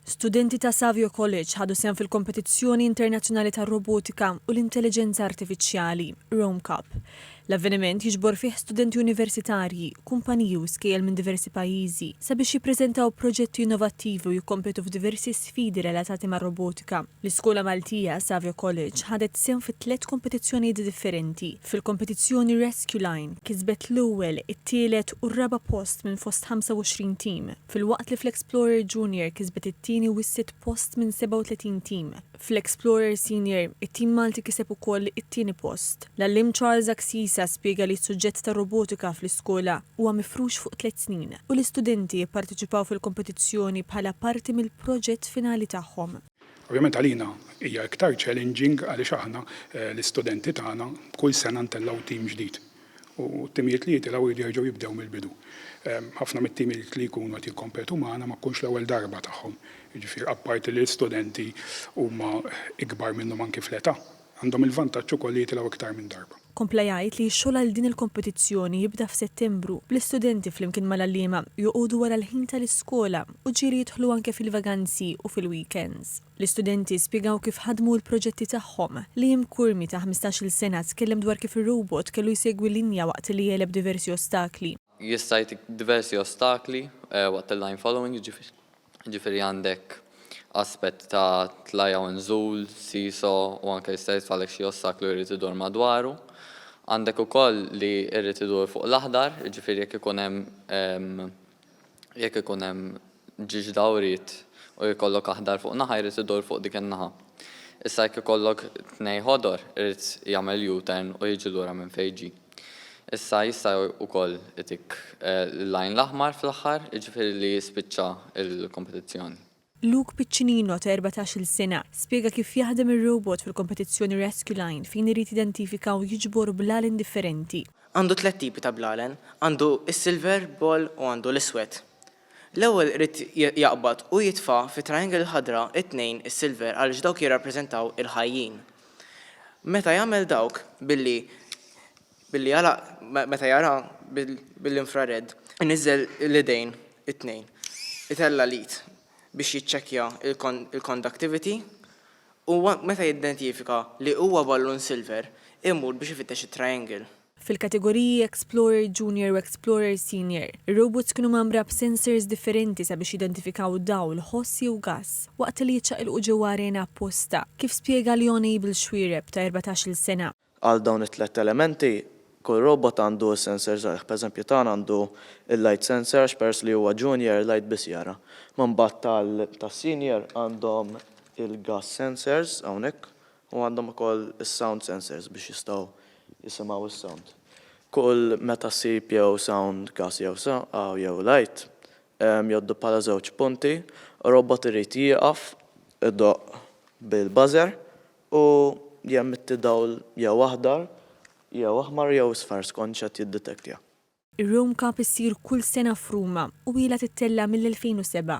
Studenti ta' Savio College ħadu sehem fil-Kompetizzjoni Internazzjonali tar-Robotika u l-Intelliġenza Artifiċjali, RomeCup. L-avveniment jiġbor fih studenti universitarji, kumpaniji u skejjel minn diversi pajjiżi sabiex jippreżentaw proġetti innovattivi u jikkompetu f'diversi sfidi relatati mar-robotika. L-iskola Maltija, Savio College, ħadet sehem fi tliet kompetizzjonijiet differenti. Fil-kompetizzjoni Rescue Line, kisbet l-ewwel, it-tielet u r-raba' post minn fost 25 tim. Filwaqt li fl-Explorer Junior kisbet it-tieni u s-sitt post minn 37 tim, fl-Explorer Senior it-tim Malti kiseb ukoll it-tieni post. L-għalliem Charles Axisa spjega li s-suġġett tar-robotika fl-iskola huwa mifrux fuq tliet snin u l-istudenti jipparteċipaw fil-kompetizzjoni bħala parti mill-proġett finali tagħhom. Ovvjament għalina hija iktar challenging għaliex aħna l-istudenti tagħna kull sena ntellgħu tim ġdid u t-timijiet li jitilgħu jridu jerġgħu jibdew mill-bidu. Ħafna mit-timijiet li jkunu qed jikkompetu magħna ma tkunx l-ewwel darba tagħhom. Jiġifieri apparti li l-istudenti huma ikbar minnhom anki fl-età, għandhom il-vantaġġ ukoll li jitilgħu iktar minn darba. Kompla jgħid li x-xogħol għal din il-kompetizzjoni jibda f'Settembru, bl-istudenti flimkien mal-għalliema joqogħdu wara l-ħin tal-iskola u ġieli jidħlu anke fil-vaganzi u fil-weekends. L-istudenti spjegaw kif ħadmu l-proġetti tagħhom. Liam Curmi ta' ħmistax-il sena tkellem dwar kif ir-robot kellu jsegwi linja waqt li jegħleb diversi ostakli. Jista' jagħtik diversi ostakli waqt il-line following, jiġifieri għandek aspett ta' tlajja u nżul, seesaw u anke jista' jitfagħlek xi ostaklu jrid idur madwaru. Għandek ukoll li jrid idur fuq l-aħdar, jiġifieri jekk ikun hemm Jekk ikun hemm ġiex dawriet u jkollok aħdar fuq naħa jrid idur fuq dik in-naħa. Issa jekk ikollok tnej ħodor irid jagħmel U-turn u jiġi lura minn fejn ġie. Issa jista' wkoll itik l-line l-aħmar fl-aħħar jiġifieri li jispiċċa l-kompetizzjoni. Luke Piccinino, ta' erbatax-il sena, spjega kif jaħdem ir-robot fil-kompetizzjoni Rescue Line fejn irid jidentifika u jiġbor blalen differenti. Għandu tliet tipi ta' blalen, għandu s-silver ball u għandu l-iswed. L-ewwel irid jaqbad u jitfa' fit-triangle il-ħadra t-tnejn is-silver għaliex dawk jirrappreżentaw il-ħajjin. Meta jagħmel dawk billi Billi għalaq meta jara bil-infrared. Iniżżel l-idejn it-tnejn. Itella' l-id biex jiċċekkja l-conductivity u meta jidentifika li huwa ballun silver, imur biex ifittex it-triangle. Fil-kategoriji Explorer Junior u Explorer Senior, ir-robots kienu mgħammra b'sensors differenti sabiex jidentifikaw dawl, ħoss jew gass, waqt li jiċċaqilqu ġewwa arena apposta, kif spjega Leon Abel Xuereb, ta' erbatax-il sena. Għal dawn it-tlett elementi, kull robot għandu s-sensors għalih. Pereżempju tagħna għandu l-light sensor għax peress li huwa junior light biss jara. Ma mbagħad tal tas-senior għandhom il-gas sensors hawnhekk u għandhom ukoll is-sound sensors biex jistgħu jisimgħu s-sound. Kull meta ssib jew sound, gas jew aw jew light, jgħoddu bħala żewġ punti, robot irid jieqaf, idoqq bil-buzzer u jemmetti dawl jew aħdar jew aħmar jew isfar skont x'qed jiddetektja. Ir-Rome Cup issir kull sena f'Ruma u ilha tittella' mill-2007.